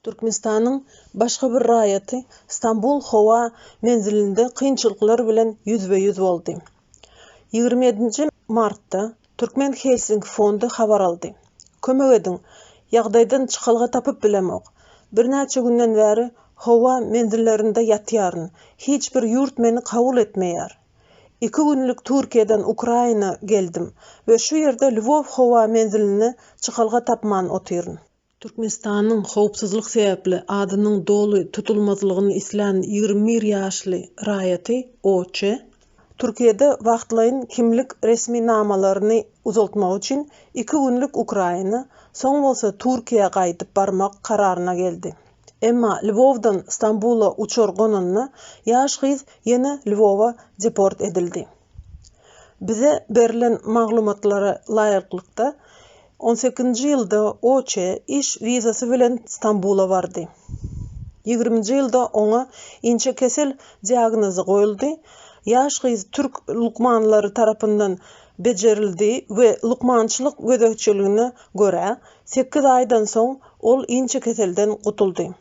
Türkmenistanyň başga bir raýaty Stambul howa menzilinde kynçylyklar bilen ýüzbe-ýüz boldy. Ýigrimi ýedinji martda Türkmen Helsinki fondy habar aldy. Kömek ediň, ýagdaýdan çykalga tapyp bilemok. Birnäçe günden bäri howa menzillerinde ýatýaryn, hiç bir ýurt meni kabul etmeýär. Iki günlük Türkiýeden Ukraina geldim we şu ýerde Lwow howa menziline çykalga tapman otyryn. Türkmenistanyň howpsuzlyk sebäpli adynyň doly tutulmazlygyny islän ýigrimi bir ýaşly raýaty OÇ, Türkiýede wagtlaýyn kimlik resminamalaryny uzaltmak üçin iki günlük Ukraina, soň bolsa Türkiýä gaýdyp barmak kararyna geldi. Emma Lwowdan Stambula uçar gonanda ýaş gyz ýene Lwowa deport edildi. Bize berlen maglumatlara laýyklykda, on sekizinji ýylda Oçe iş wizasy bilen Stambula bardy. Ýigriminji ýylda oňa inçekesel diagnozy goýuldy. Ýaş gyz türk lukmanlary tarapyndan bejerildi we lukmançylyk gözegçiligine görä, sekiz aýdan soň ol inçekeselden gutuldy.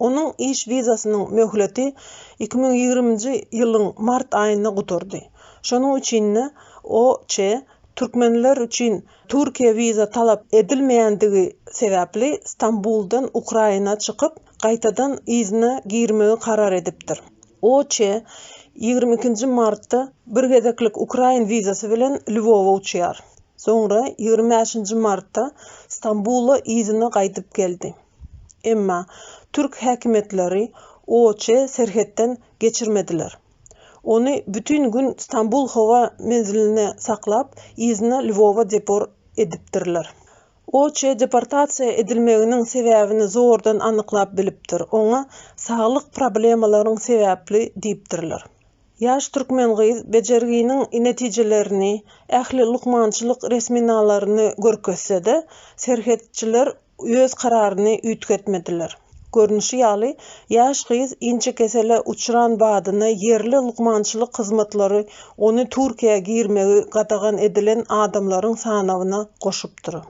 Onuň iş wizasynyň möhleti iki müň ýigriminji ýylyň mart aýynda gutardy. Şonuň üçin-de OÇ türkmenler üçin Türkiýä wiza talap edilmeýändigi sebäpli Stambuldan Ukraina çykyp, gaýtadan yzyna girmegi karar edipdir. OÇ ýigrimi ikinji martda bir gezeklik ukrain wizasy bilen Lwowa uçýar. Soňra ýigrimi bäşinji martda Stambula yzyna gaýdyp geldi. Emma türk häkimiýetleri OÇ-y serhetden geçirmediler. Ony bütin gün Stambul howa menzilinde saklap, yzyna Lwowa depor edipdirler. OÇ deportasiýa edilmeginiň sebäbini zordan anyklap bilipdir, oňa saglyk problemalaryň sebäpli diýipdirler. Ýaş türkmen gyz bejerginiň netijelerini, ähli lukmançylyk resminalaryny görkezse-de, serhetçiler öz kararyny üýtgetmediler. Görnüşi ýaly, ýaş gyz inçekesele uçran badyna ýerli lukmançylyk hyzmatlary ony Türkiýä girmegi gadagan edilen adamlaryň sanawyna goşupdyr.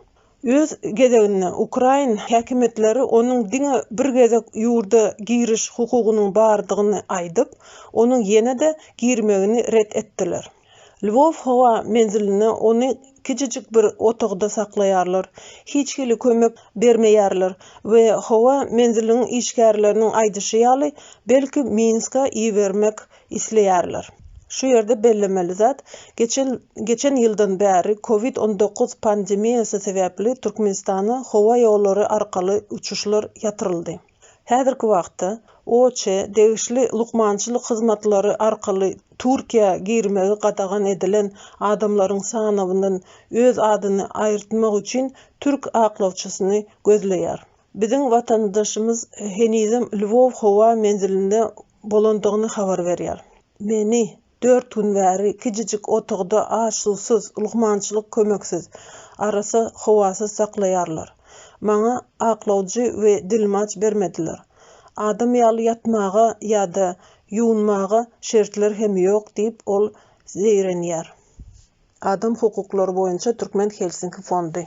Öz gezeginde, ukrain häkimiýetleri onuň diňe bir gezek ýurda giriş hukugynyň bardygyny aýdyp, onuň ýene-de girmegini ret etdiler. Lwow howa menzilinde ony kiçijik bir otagda saklaýarlar, hiç hili kömek bermeýärler we howa menziliniň işgärleriniň aýdyşy ýaly, belki Minska ibermek isleýärler. Şu ýerde bellemeli zat, geçen geçen ýyldan bäri covid on dokuz pandemiýasy sebäpli Türkmenistana howa ýollary arkaly uçuşlar ýatyryldy. Häzirki wagtda OÇ-e degişli lukmançylyk hyzmatlary arkaly Türkiýä girmegi gadagan edilen adamlaryň sanawyndan öz adyny aýyrtmak üçin türk aklawçysyny gözleýär. Biziň watandaşymyz henizem Lwow howa menzilinde bolandygyny habar berýär. Meni, Dört gün bäri kiçijik otagda aş-suwsuz, lukmançylyk kömeksiz, arassa howasyz saklaýarlar. Maňa aklawjy we dilmaç bermediler. Adam ýaly ýatmaga ýa-da ýuwunmaga şertler hem ýok diýip, ol zeýrenýär. Adam hukuklary boýunça Türkmen Helsinki fondy.